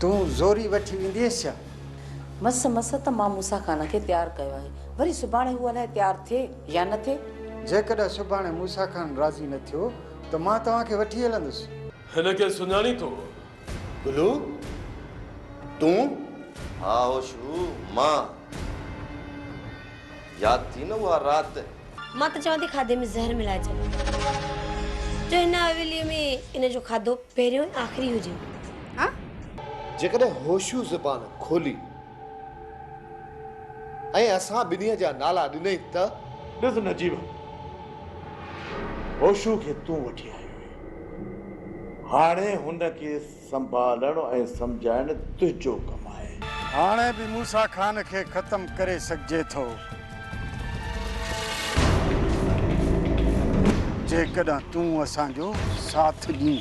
تون زوري وٺي ويندينس ڇا؟ مس مس ته مان موسيٰ خان کي تيار ڪيو آهي. وري سڀاڻي هو الائي تيار ٿئي يا نه ٿئي. جيڪڏهن سڀاڻي موسيٰ خان راضي نه ٿيو ته مان توهان کي وٺي هلندس. هن کي سڃاڻين ٿو؟ گلو تون؟ ها هوشو مان ياد ٿي نه اها رات. مان ته چوان ٿي کاڌي ۾ زهر ملائي ڇڏ جو هن حويلي ۾ ان جو کاڌو پهريون ۽ آخري هجي. ها؟ جيڪڏهن هوشو زبان کولي. ۽ اسان ٻنهي جا نالا ڏنئي ته. ڏس نجيب! هوشو کي تون وٺي آيو آهين. هاڻي هن کي سنڀالڻ ۽ سمجهائڻ تنهنجو ڪم آهي. هاڻي به موسيٰ خان کي ختم ڪري سگهجي ٿو. جيڪڏهن تون اسان جو ساٿ ڏين.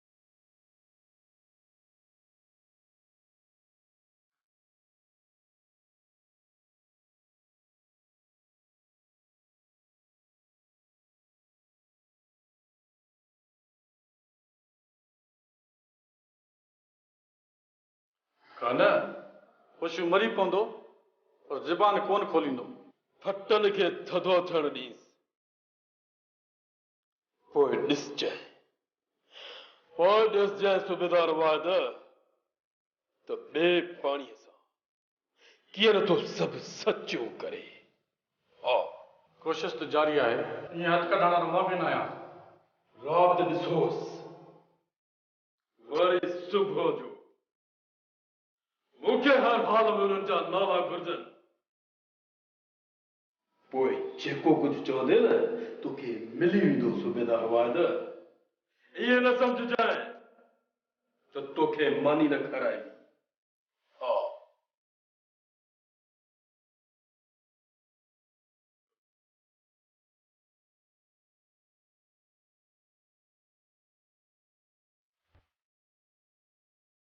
ڪا نه خوشيون مري پوندو پر زبان ڪون کوليندو. ڦٽل کي ٿڌو ٿيڻ ڏينس. پوء ڏسجانء. پوء ڏسجانء صوبيدار واحد ته ٻئي پاڻيء سان ڪيئن نه ٿو سڀ سچو ڪري. ها! ڪوشش ته جاري آهي. ائين هٿ ڪڍڻ وارو مان به نه آهيان. رات ڏسوس. وري صبح جو. مون کي هر حال ۾ انهن جا نالا گهرجن. پوء جيڪو ڪجهه چوندين نه توکي ملي ويندو صوبيدار واحد! ائين نه سمجهجانء ته توکي ماني نه کارائبي. ها!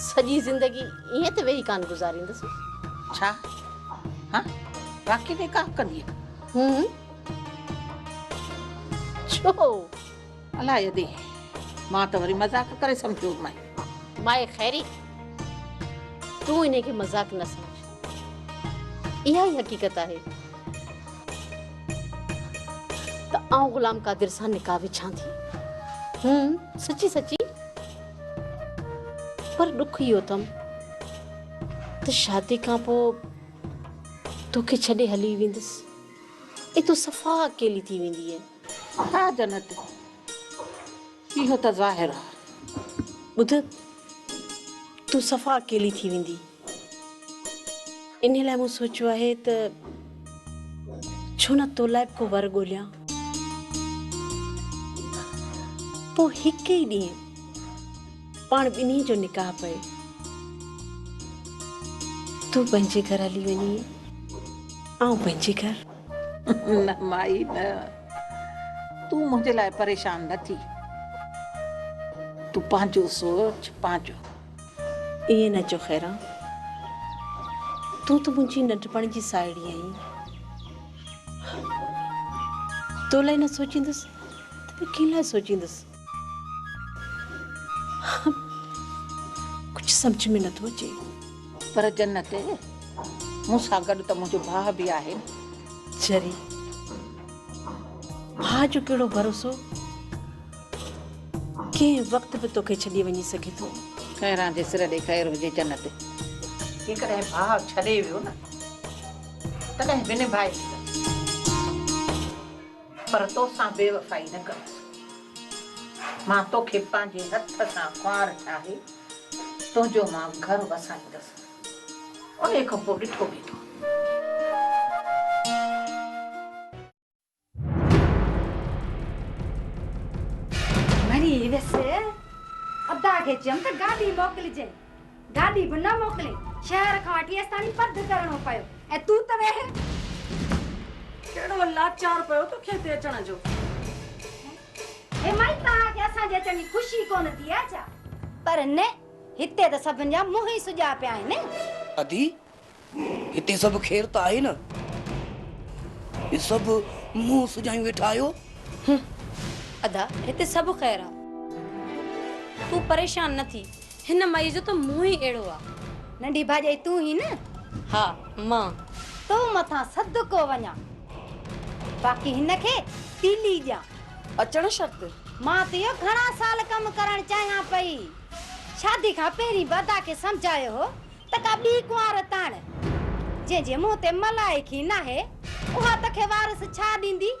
سڄي زندگي ائين ته ويهي ڪانه گذاريندس. ڇا؟ ها باقي نڪاح ڪندين؟ هم. ڇو؟ الاء ادي، مان ته وري مذاق ڪري سمجهيو هئم. مائي خيري، تون انهي کي مذاق نه سمجهه. اها ئي حقيقت آهي ته آئون غلام قادر سان نڪاح وڇان ٿي. هون سچي سچي پر ڏک اهو اٿم ته شادي کان پوء توکي ڇڏي هلي ويندس ۽ تون صفا اڪيلي ٿي ويندينء. ها جنت، اهو ته ظاهر آهي. ٻڌ، تون صفا اڪيلي ٿي ويندينء. انهيء لاء مون سوچيو آهي ته ڇو نه تو لاء به ڪو ور ڳوليان. پوء هڪ ئي ڏينهن پاڻ ٻنهي جو نڪاح پئي. تون پنهنجي گهر هلي وڃين، آئون پنهنجي گهر. نه مائي نه. تون منهنجي لاء پريشان نه ٿي. تون پنهنجو سوچ، پنهنجو. ائين نه چئو خيران، تون ته منهنجي ننڍپڻ جي ساهيڙي آهين. تو لاء نه سوچيندس ته ٻيو ڪنهن لاء سوچيندس. ڪجهه سمجهه ۾ نٿو اچي. پر جنت، مون سان گڏ ته منهنجو ڀاء به آهي نه. چري، ڀاء جو ڪهڙو ڀروسو. ڪنهن وقت به توکي ڇڏي وڃي سگهي ٿو. خيران جي سر ڏي خير هجي جنت. جيڪڏهن ڀاء ڇڏي ويو نه تڏهن به نڀائي هلندس پر توسان بيوفائي نه ڪندس. مان توکي پنهنجي هٿ سان ڪنوار ٺاهي تنهنجو مان گهر وسائيندس. انهي کان پوء ڏٺو ويندو. مري ويس ادا کي چيم ته گاڏي موڪلجي گاڏي به نه موڪلي شهر کان وٺي استاني پڌ ڪرڻو پيو ۽ تون ته ويهي ڪهڙو لاچار پيو توکي هتي اچڻ جو هي مائي توهان کي اسان جي اچڻ جي خوشي ڪونه ٿي آهي ڇا پر نه هتي ته سڀن جا منهن ئي سجا پيا آهن ادي هتي سڀ خير ته آهي نه؟ هي سڀ منهن سجايون ويٺا آهيو؟ هنم، ادا هتي سڀ خير آ. تون پريشان نه ٿي. هن مئي جو ته منهن ئي اهڙو آ. ننڍي ڀاڄائي تون هين نه؟ ها مان. تو مٿان صدقو وڃان. باقي هن کي تيلي ڏيان. اچڻ شرط؟ مان ته اهو گهڻا سال ڪم ڪرڻ چاهيان پئي. شادي کان پهرين به ادا کي سمجهايو هو ته ڪا ٻي ڪنوار تاڻ، جنهن جي منهن تي ملائڪ ئي ناهي، اها تو کي وارث ڇا ڏيندي؟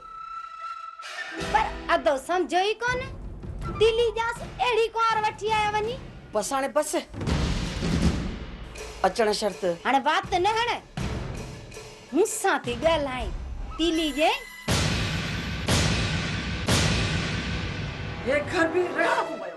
پر ادو سمجهيو ئي ڪونه، دلي ڄاس اهڙي ڪنوار وٺي آيو وڃي. بس هاڻي بس، اچڻ شرط. هاڻي وات نه هڻ، مون سان ٿي ڳالهائين، تيلي ڄئين. هي گهر به رهاڪو ويو.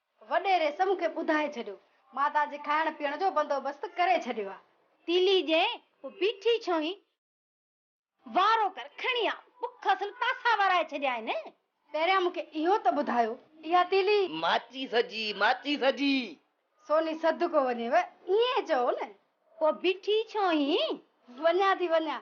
وڏيري سمون کي ٻڌائي ڇڏيو. مان توهان جي کائڻ پيئڻ جو بندوبست ڪري ڇڏيو آ. تيلي ڄي پوء بيٺي ڇو هين؟ وارو ڪر کڻي آ. بک اصل تاسا وارائي ڇڏيائين. پهريان مون کي اهو ته ٻڌايو اها تيلي. ماچيس جي، ماچيس جي. سوني صدقو وڃيو ائين چئو نه. پوء بيٺي ڇو هين؟ وڃان ٿي وڃان.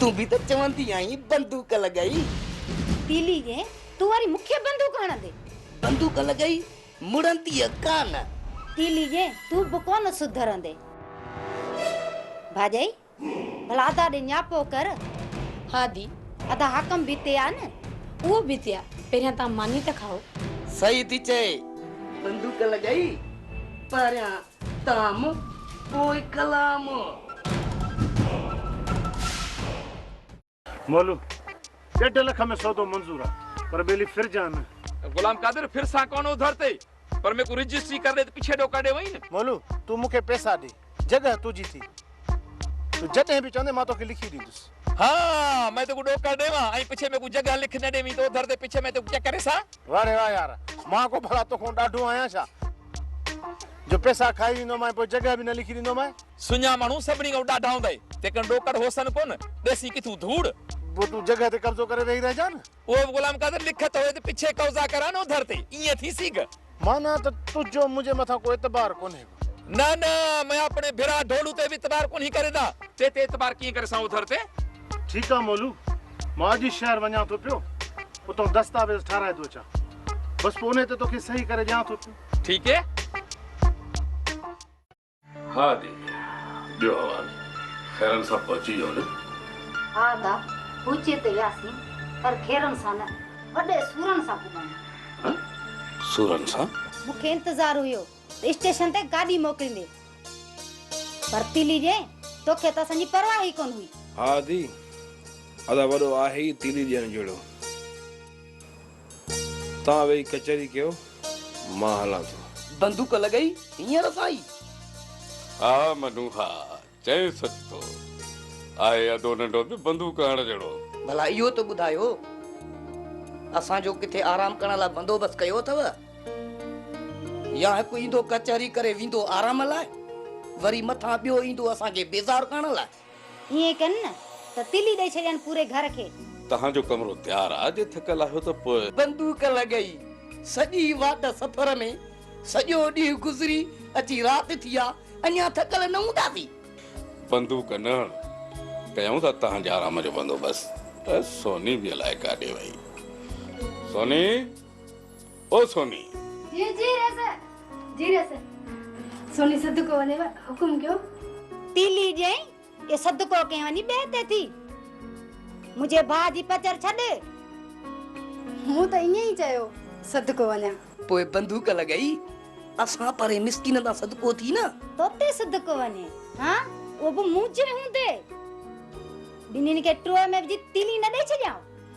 تون به ته چوندي آهين بندوق لڳئي. تيلي جي تون وري مون کي بندوق هڻندي. بندوق لڳئي مڙنديء ڪانه. تيلي جي تون به ڪونه سڌرندي. ڀاڄائي ڀلا ادا ڏي نياپو ڪر. ها دي ادا حاڪم به تي آ نه. اهو به تي آ پهريان توهان ماني ته کائو. صحيح ٿي چئي بندوق لڳئي پهريان. تام پوء ڪلام. مولو، ڏيڍ لک ۾ سودو منظور آ، پر ٻيلي ڦر جان نه. غلام قادر، ڦر سان ڪونه اڌر تي، پر ميڪو رجسٽري ڪر ڏي ته پڇي ڏوڪڙ ڏي وئين. مولو، تون مون کي پئسا ڏي، جڳهه تنهنجي ٿي. تون جڏهن به چوندين مان توکي لکي ڏيندس. ها، مئن توکون ڏوڪڙ ڏيوان ۽ پڇي ميڪون جڳهه لک نه ڏيوين ته اوڌر تي پڇي مئن توکون چڪر ڏسان. واھ ري واھ يار، مان ڪو ڀلا توکون ڏاڍو آهيان ڇا جو پئسا کائي ويندوم ۽ پوء جڳهه به نه لکي ڏيندومانء. سڃا ماڻهو سڀني کان ڏاڍا هوندئي، تنهنڪري ڏوڪڙ هوسن ڪونه، ڏيسين ڪٿون ڌوڙ. پوء تون جڳهه تي قبضو ڪري ويهي رهجان. اهو به غلام قادر لکت هوئي ته پڇي قوضا ڪران نو ڌر تي، ايئن ٿي سي گه. معنيٰ ته تنهنجو منهنجي مٿان ڪو اعتبار ڪونهي گه. نه نه، مين آپڻي ڀرا ڍولو تي به اعتبار ڪونهي ڪريندا. تي تي اعتبار ڪيئن ڪري سان او ڌر تي. ٺيڪ آ مولو، مان اڄ ئي شهر وڃان ٿو پيو، اتان دستاويز ٺهرائي ٿو اچان. بس پوء انهي تي توکي صحيح ڪري ڏيان ٿو پيو. ٺيڪ اي. ها جي ڏيو حوال خيرن سان پهچي ويو نه. ها ادا پهچي ته وياسين پر خيرن سان نه وڏي سورن سان پڳهون. ها سورن سان. مون کي انتظار هيو ته اسٽيشن تي گاڏي موڪليندي. پرتيلي ڏيئي توکي ته اسان جي پرواهه ئي ڪونه هئي. ها ادي ادا وڏو آهي ئي تيلي ڏيڻ جهڙو. توهان ويهي ڪچهري ڪيو، مان هلان ٿو. بندوق لڳئي هينئر سائي. ها منو ها، چئين سچ ٿو. آهي ادو ننڍو به بندوق هڻڻ جهڙو. ڀلا اهو ته ٻڌايو، اسان جو ڪٿي آرام ڪرڻ لاء بندوبست ڪيو اٿئو؟ يا هڪ ايندو ڪچهري ڪري ويندو آرام لاء، وري مٿان ٻيو ايندو اسان کي بيزار ڪرڻ لاء؟ ائين ڪن نه ته تلي ڏئي ڇڏين پوري گهر کي. توهان جو ڪمرو تيار آ، جي ٿڪل آهيو ته پوء. بندوق لڳائي سڄي واٽ سفر ۾. سڄو ڏينهن گذري اچي رات ٿي آ، اڃا ٿڪل نه هونداسين. بندوق نه هڻ، ڪيائون ٿا توهان جي آرام جو بندوبست. سوني به الائي ڪاڏي وئي. سوني! او سوني! جي جي رس! جي رس! سوني صدقو وڃيو حڪم ڪيو. تيلي ڄئين اهو صدقو ڪنهن وڃي ٻئي تي ٿي. منهنجي ڀاء جي پچر ڇڏ. مون ته ائين ئي چيو صدقو وڃان. پوء بندوق لڳائي اسان پرين مسڪينن تان صدقو ٿي نه. تو تي صدقو وڃي ها اهو به مون جي هوندي. ٻنهين کي ٽوئي ۾ وجهي تيلي نه ڏئي ڇڏيان.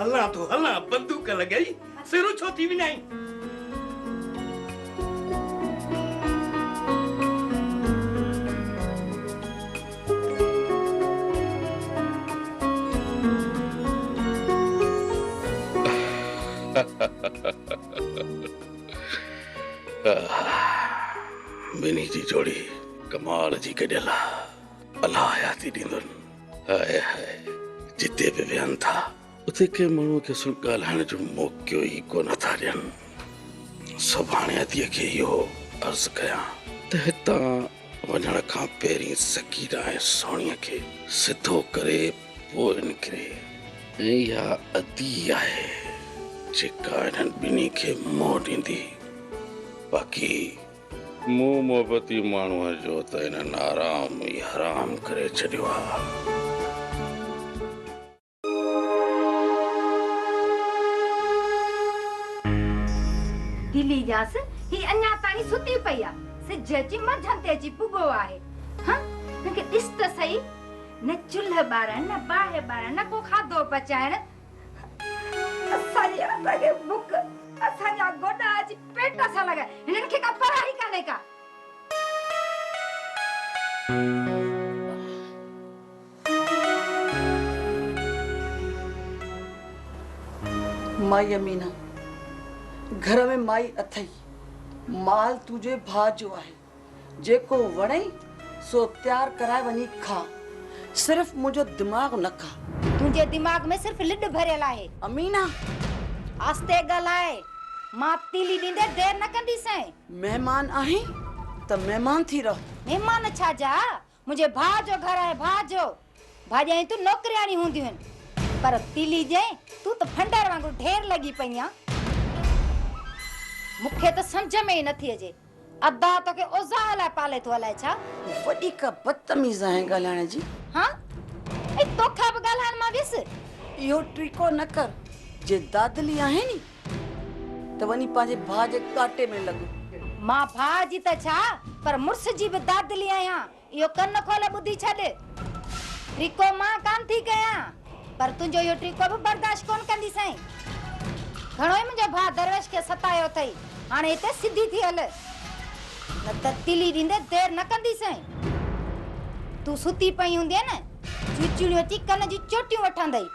هلان ٿو هلان بندوق لڳائي سرو ڇو ٿي وڃائين. ٻنهي جي جوڙي ڪمال جي گڏيل آ. الله حياتي ڏيندن. هاء هاء جتي به ويهن ٿا اتي ڪنهن ماڻهو کي سو ڳالهائڻ جو موقعو ئي ڪونه ٿا ڏين سڀاڻي ادي کي اهو عرض ڪيان ته هتان وڃڻ کان پهرين سڪينا ۽ سهڻي کي سڌو ڪري پوء نڪري ۽ اها ادي آهي جيڪا انهن ٻنهي کي منهن ڏيندي باقي مون محبتي ماڻهوء جو ته انهن آرام ئي حرام ڪري ڇڏيو آ. دلي ڄاس هي اڃا تائين ستي پئي آ. سج اچي منجهند تي اچي پڳو آهي. هنء هن کي ڏس ته سهي. نه چلهه ٻارڻ نه باهه ٻارڻ نه ڪو کاڌو پچائڻ. اسان جي هٿ کي مڪ، اسان جا گوڏا اچي پيٽ سان لڳا، هنن کي ڪا پرواهه ئي ڪانهي ڪا. مائي امينه، گهر ۾ مائي اٿئي، مال تنهنجي ڀاء جو آهي. جيڪو وڻئي سو تيار ڪرائي وڃي کا. صرف منهنجو دماغ نه کا. تنهنجي دماغ ۾ صرف لڏ ڀريل آهي. امينه! آهستي ڳالهاء. مان تيلي ڏيندي دير نه ڪنديسين. مهمان آهين ته مهمان ٿي رهه. مهمان ڇا جا؟ منهنجي ڀاء جو گهر آهي ڀاء جو. ڀاڄايين تون نوڪرياڻي هوندي هين. پر تيلي جئين تون ته ڦنڊر وانگر ڍير لڳي پئي آن. مون کي ته سمجهه ۾ ئي نٿي اچي. ادا توکي اوزاع لاء پالي ٿو الائي ڇا. وڏي ڪا بدتميز آهين ڳالهائڻ جي. ها ۽ توکان به ڳالهائڻ مان ويس. اهو ٽريڪو نه ڪر. جي دادلي آهي ني. ته وڃي پنهنجي ڀاء جي ڪاٽي ۾ لڳ. مان ڀاء جي ته ڇا پر مڙس جي به دادلي آهيان اهو ڪن کول ٻڌي ڇڏ. ٽيڪو مان ڪانه ٿي ڪيان پر تنهنجو اهو ٽيڪو به برداشت ڪونه ڪندي سائين. گهڻو ئي منهنجو ڀاء درويش کي ستايو اٿئي هاڻي هتي سڌي ٿي هل نه ته تلي ڏيندي دير نه ڪندي سائين. تون ستي پئي هوندينء نه جوچيڻيون اچي ڪن جون چوٽيون وٺندئي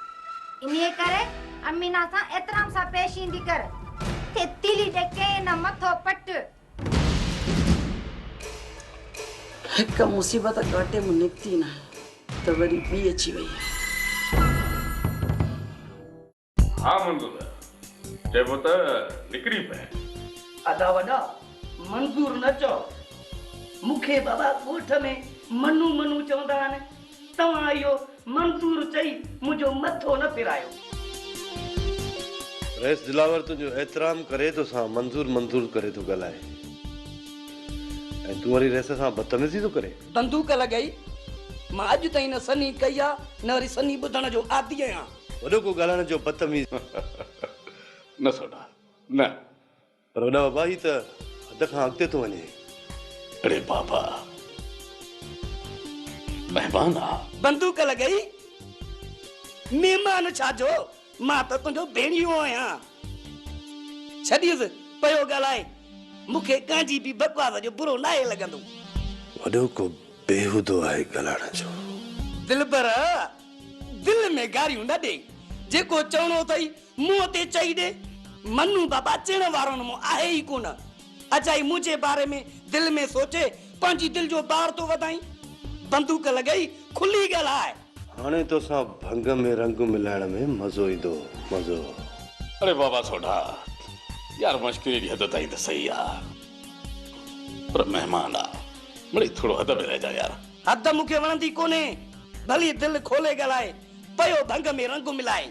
انهيء ڪري. امينه سان احترام سان پيش ايندي ڪر. ٿي تيلي ڏي ڪين نه مٿو پٽ. هڪ مصيبت ڪاٽي مان نڪتي ناهي ته وري ٻي اچي وئي آهي. ها منظور ڀيا چئبو ته نڪري پئه. ادا وڏا منظور نه چئو مون کي بابا ڳوٺ ۾ منو منو چوندا آهن. توهان اهو منظور چئي منهنجو مٿو نه ڦيرايو. رئيس دلاور تنهنجو احترام ڪري ٿو سان منظور منظور ڪري ٿو ڳالهائي ۽ تون وري رئيس سان بدتميزي ٿو ڪرين. بندوق لڳائي. مان اڄ تائين نه سنهي ڪئي آ نه وري سنهي ٻڌڻ جو عادي آهيان. وڏو ڪو ڳالهائڻ جو بدتميز. نه سوڍا نه. پر وڏا بابا هي ته حد کان اڳتي ٿو وڃي. اڙي بابا مهمان آ. بندوق لڳائي مهمان ڇا جو مان ته تنهنجو ڀيڻيو آهيان. ڇڏيس پيو ڳالهائي مون کي ڪنهنجي به بڪواس جو برو ناهي لڳندو. وڏو ڪو بيهودو آهي ڳالهائڻ جو. دلبر دل ۾ گاريون نه ڏي جيڪو چوڻو اٿئي منهن تي چئي ڏي. منو، بابا چئڻ وارو نه مون آهي ئي ڪونه. اجائي منهنجي باري ۾ دل ۾ سوچي پنهنجي دل جو بار ٿو وڌائين. بندوق لڳائي کلي ڳالهاء. هاڻي توسان ڀنگ ۾ رنگ ملائڻ ۾ مزو ايندو. مزو. اڙي بابا سوڍا، يار مشڪري اهڙي حد تائين ته سهي آ. پر مهمان آ. مڙئي ٿورو حد ۾ رهجان يار. حد مون کي وڻندي ڪونهي. ڀلي دل کولي ڳالهاء. پيو ڀنگ ۾ رنگ ملائي.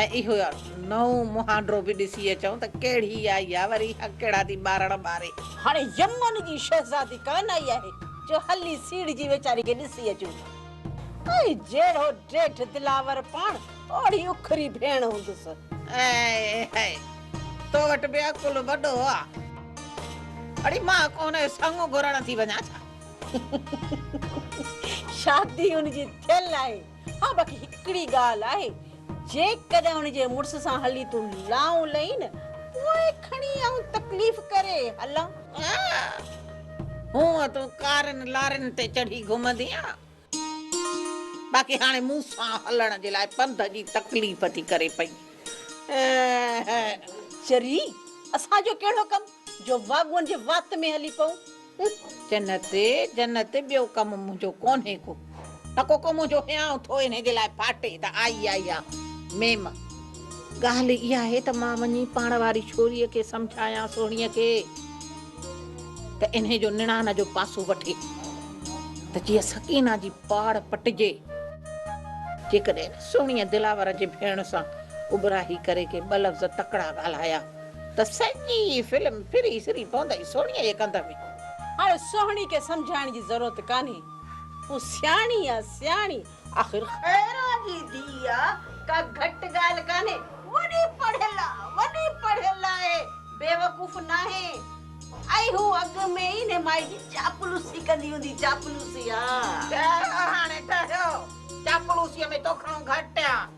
۽ اهو نئون مهانڊو به ڏسي اچون ته ڪهڙي آئي آ وري هڪڙا ٿي ٻارڻ ٻاري. هاڻي يمن جي شهزادي ڪانه آئي آهي جو هلي سيڙهجي ويچاري کي ڏسي اچون ٿا. ۽ جهڙو ڊيٺ دلاور پاڻ اوڙي اکري ڀيڻ هوندس. اي هئي! تو وٽ به عقل وڏو آ. اڙي مان ڪو هن کي سڱ گهرڻ ٿي وڃان ڇا؟ شادي هن جي ٿيل آهي. ها باقي هڪڙي ڳالهه آهي جيڪڏهن ان جي مڙس سان هلي تون لائون لئين نه پوء کڻي آئون تڪليف ڪري هلان. ها هونء تون ڪارين لارين تي چڙهي گهمندينء باقي هاڻي مون سان هلڻ جي لاء پنڌ جي تڪليف ٿي ڪري پئي. اهه. چري اسان جو ڪهڙو ڪم جو واڳون جي وات ۾ هلي پئون. اک جنت جنت ٻيو ڪم منهنجو ڪونهي ڪو ٽڪو ڪو منهنجو هيانء ٿو انهي جي لاء ڦاٽي ته آئي آئي آ ميم ڳالهه اها آهي ته مان وڃي پاڻ واري ڇوريء کي سمجهايان سهڻيء کي ته انهي جو نڻان جو پاسو وٺي ته جيئن سڪينه جي پاڙ پٽجي جيڪڏهن سهڻيء دلاور جي ڀيڻ سان اٻراهي ڪري ڪي ٻه لفظ تڪڙا ڳالهايا ته سڄي فلم ڦري سري پوندئي سهڻيء جي ڪنڌ ۾. هاڻي سهڻي کي سمجهائڻ جي ضرورت ڪانهي. هو سياڻي آ سياڻي. آخر خيرا جي ڌيء آ، ڪا گهٽ ڳالهه ڪانهي. وڏي پڙهيل آ، وڏي پڙهيل آهي، بيوقوف ناهي. ۽ هو اڳ ۾ ئي انهي مائي جي چاپلوسي ڪندي هوندي، چاپلوسي آ. ٺهرو هاڻي ٺهرو. چاپلوسيء ۾ تو کڻو گهٽ آ.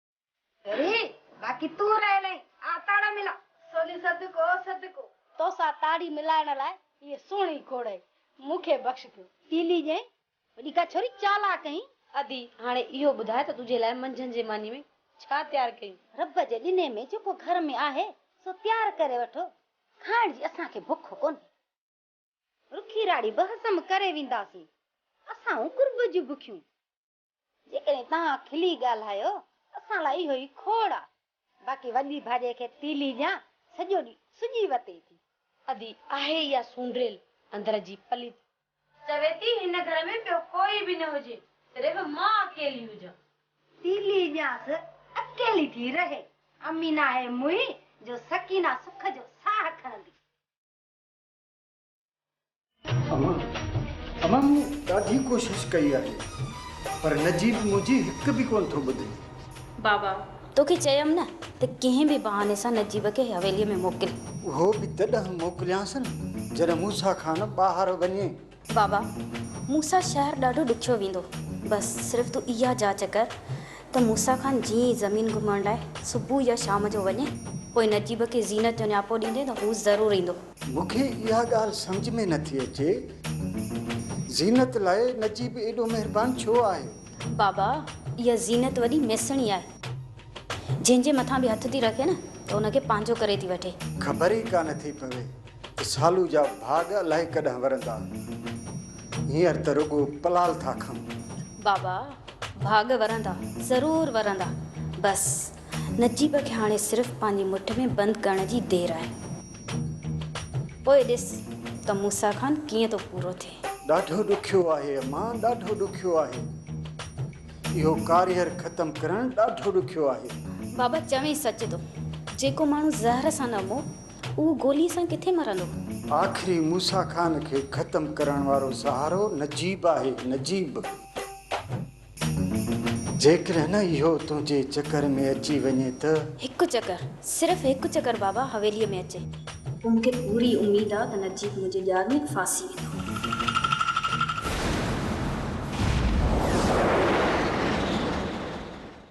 وري باقي تون رهيل آهين، آء تاڙا ملان. سوني صدقو صدقو. توسان تاڙي ملائڻ لاء اهي سهڻي کوڙهي مون کي بخش ڪيو. تيلي ڄائين، وڏي ڪا ڇوري چالاڪ آهين. ادي هاڻي اهو ٻڌاء ته تنهنجي لاء منجهند جي ماني ۾ ڇا تيار ڪيون؟ رب جي ڏني ۾ جيڪو گهر ۾ آهي سو تيار ڪري وٺو، کائڻ جي اسان کي بک ڪونهي. رکي راڙي به هضم ڪري وينداسين، اسان هون قرب جون بکيون. جيڪڏهن توهان کلي ڳالهايو ته اسان لاء اهو ئي کوڙ آ. باقي وڏي ڀاڄي کي تيلي ڄان سڄو ڏينهن سڄي وتي ٿي. ادي آهي اها سونڊريل اندر جي پليت. چوي ٿي هن گهر ۾ ٻيو ڪوئي به نه هجي صرف مان اڪيلي هجان. تيلي ڄانس اڪيلي ٿي رهي. اميد ناهي منهي جو سڪينه سک جو ساهه کڻندي. امان امان مون ڏاڍي ڪوشش ڪئي آهي پر نجيب منهنجي هڪ به ڪونه ٿو ٻڌي. بابا توکي چيم نه ته ڪنهن به بهاني سان نجيب کي حويلي ۾ موڪل. اهو به تڏهن موڪليانس نه جڏهن موسيٰ خان ٻاهر وڃي. بابا موسيٰ شهر ڏاڍو ڏکيو ويندو بس صرف تون اها جاچ ڪر ته موسيٰ خان جيئن ئي زمين گهمڻ لاء صبح يا شام جو وڃي پوء نجيب کي زينت جو نياپو ڏيندي ته هو ضرور ايندو. مون کي اها ڳالهه سمجهه ۾ نه ٿي اچي زينت لاء نجيب ايڏو مهربان ڇو آهي؟ بابا اها زينت وڏي ميسڻي آهي جنهن جي مٿان به هٿ ٿي رکي نه ته ان کي پنهنجو ڪري ٿي وٺي. خبر ئي ڪانه ٿي پوي ته سالو جا ڀاڳ الائي ڪڏهن ورندا هينئر ته رڳو پلال ٿا کائون. بابا ڀاڳ ورندا ضرور ورندا بس. نجيب کي هاڻي صرف پنهنجي مٺ ۾ بند ڪرڻ جي دير آهي. پوء ڏس ته موسيٰ خان ڪيئن ٿو پورو ٿئي. ڏاڍو ڏکيو آهي امان ڏاڍو ڏکيو آهي. اهو ڪاريهر ختم ڪرڻ ڏاڍو ڏکيو آهي. بابا چوين سچ ٿو. جيڪو ماڻهو زهر سان نه مئو اهو گولي سان ڪٿي مرندو. آخري موسيٰ خان کي ختم ڪرڻ وارو سهارو نجيب آهي نجيب. جيڪڏهن اهو تنهنجي چڪر ۾ اچي وڃي ته. هڪ چڪر، صرف هڪ چڪر بابا حويليء ۾ اچي. پوء مون کي پوري اميد آ ته نجيب منهنجي ڄار ۾ ڦاسي ويندو.